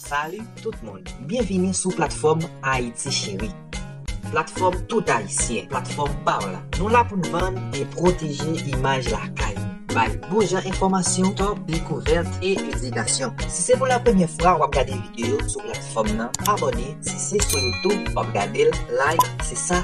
Salut tout moun, byenvini sou platfòm Ayiti Cheri Platfòm tout ayisyen, platfòm pa w la Nou la pou n vann e pwoteje imaj lakay nou Bay bon jan enfòmasyon, top, dekouvèt e edikasyon Si se pou la premyè fwa w ap gade videyo sou platfòm nan, abòne Si se sou youtube w ap gade l, like Se sa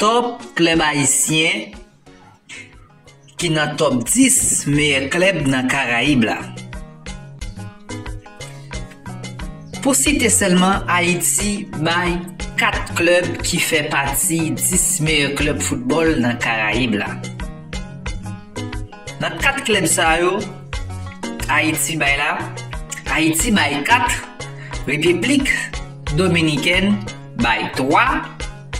Top klèb ayisyen ki nan top 10 meyè klèb nan Karayib la. Pou site sèlman Ayiti bay 4 klèb ki fè pati 10 meyè klèb foutbòl nan Karayib la. Nan 4 klèb sa yo Ayiti bay la, Ayiti bay 4, Repiblik Dominikèn, bay 3,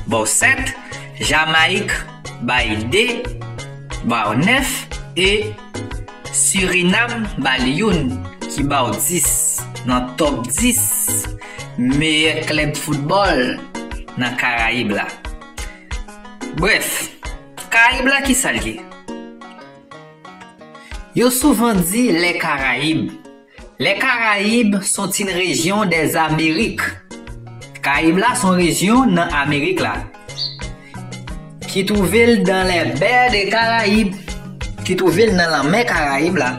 ba w 7, Jamayik bay 2, ba w 9 e Surinam ba l youn ki ba w 10 nan top 10 meyè klèb foutbòl nan Karayib la. Brèf, Karayib la kisa l ye? Yo souvan di lè Karayib. Les Caraïbes sont une région des Amériques. Karayib la son rejyon nan Amerik la. Ki twouve l dans les baies des Caraïbes. Ki twouve l nan lanmè Karayib la.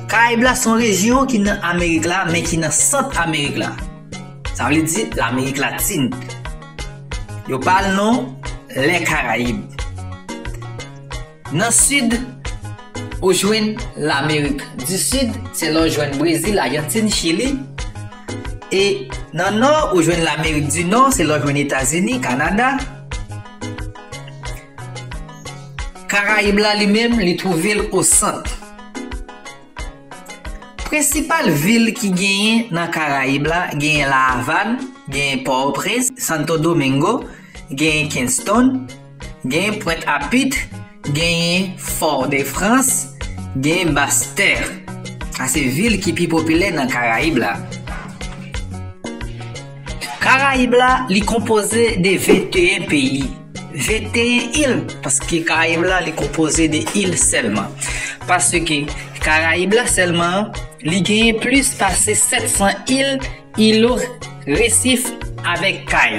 Karayib la son rejyon ki nan Amerik la men ki nan Sant Amerik la. Sa vle di Lamerik Latin. Yo ba l non Les Caraïbes. Nan sid, ou jwenn Lamerik di Sid, se la w jwenn Brezil, Ajantin, Chili. E nan nò, ou jwenn Lamerik di Nò, se la w jwenn Etazini, Kanada. Karayib la li menm, li twouve l o sant. Prensipal vil ki genyen nan Karayib la, genyen La Avàn, genyen Pò-o-Prens, Santo Domingo, genyen Kinston. Gen Pwent a Pit, genyen Fort de France, genyen Basse Terre. A se vil ki pi popilè nan Karayib la. Karayib la li konpoze de 21 peyi, 21 il, paske Karayib la li konpoze de il sèlman. Paske Karayib la sèlman, li genyen plis pase 700 il, ilo, resif avèk kay.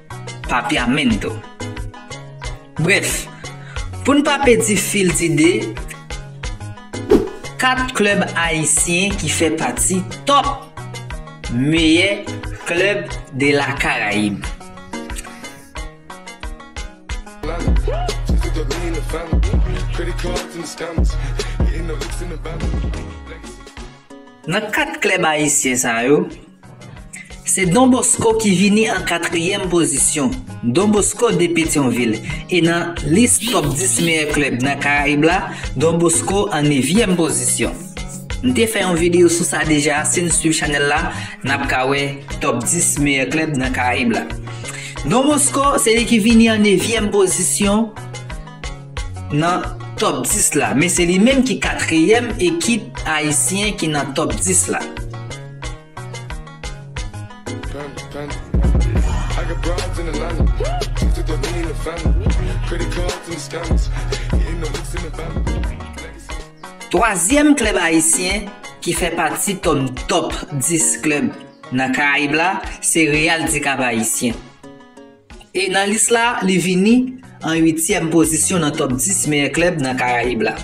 Papiamento. Brèf, pou n pa pèdi fil dide, 4 klèb ayisyen ki fè pati top meyè klèb de la Caraïbe. Nan 4 klèb ayisyen sa yo. Se Don Bosco ki vini an katriyèm pozisyon. Don Bosco de Petyonvil e nan lis top 10 meyè klèb nan Karayib la, Don Bosco an nevyèm pozisyon. M te fè yon videyo sou sa deja, si n swiv chanèl la, n ap ka wè top 10 meyè klèb nan Karayib la. Don Bosco se li ki vini an nevyèm pozisyon. Nan top 10 la, men se li menm ki katriyèm ekip ayisyen ki nan top 10 la. Twazyèm klèb ayisyen ki fè pati ton top 10 klèb nan karayib la se Real di Kap Ayisyen. E nan lis la, li vini an uityèm pozisyon nan top 10 meyè klèb nan Karayib la.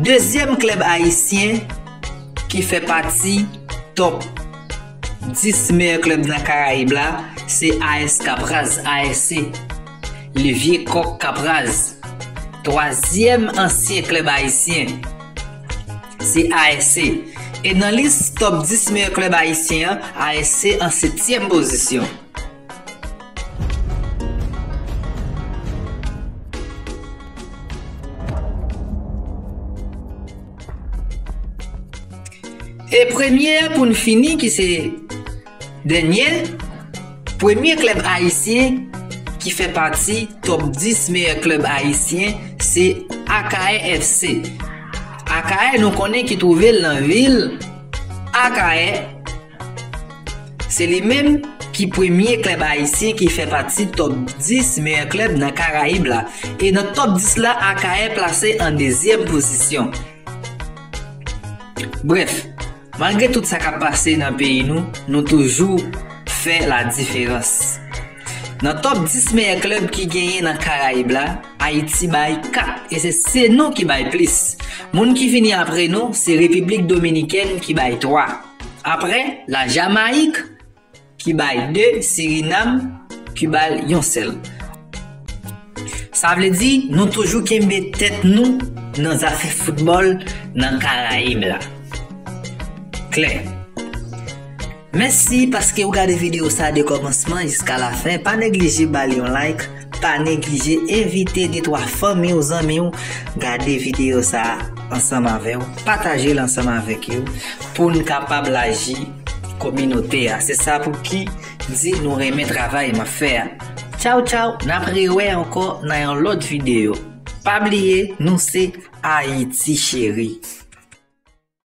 Dezyèm klèb ayisyen ki fè pati top. 10 meyè klèb nan karayib la se AS Kapraz, ASC, Le Vieux Coq Kapraz. Twazyèm ansyen klèb ayisyen se ASC. E nan lis top 10 meyè klèb ayisyen an, ASC an setyèm pozisyon. E premye a pou n fini ki se dènye, premye klèb ayisyen ki fè pati top 10 meyè klèb ayisyen se Akayè FC. Akayè nou konnen ki twouve l nan vil Akayè. Se li menm ki premye klèb ayisyen ki fè pati top 10 meyè klèb nan Karayib la e nan top 10 la Akayè plase an dezyèm pozisyon. Brèf, malgre tout sa k ap pase nan peyi nou, nou toujou fè la diferans. Nan top 10 meyè klèb ki genyen nan Karayib la, Ayiti bay 4 e se se nou ki bay plis. Moun ki vini apre nou se Repiblik Dominikèn ki bay 3. Aprè la Jamayik ki bay 2, Sirinam ki bal yon sèl. Sa vle di nou toujou kenbe tèt nou nan zafè foutbòl nan Karayib la. Klè. Mèsi paske ou gade video sa de kòmansman jiska lafen, pa neglije bal yon like. Pa neglije envite de twa fanmi w, zanmi w gade videyo sa a ansanm avè w, pataje l ansanm avèk yo pou n kapab laji kominote a. Se sa pou ki m di nou renmen travay m ap fè a. Tchaw tchaw, n ap rewè ankò nan yon lòt videyo. Pa bliye nou se Ayiti Cheri.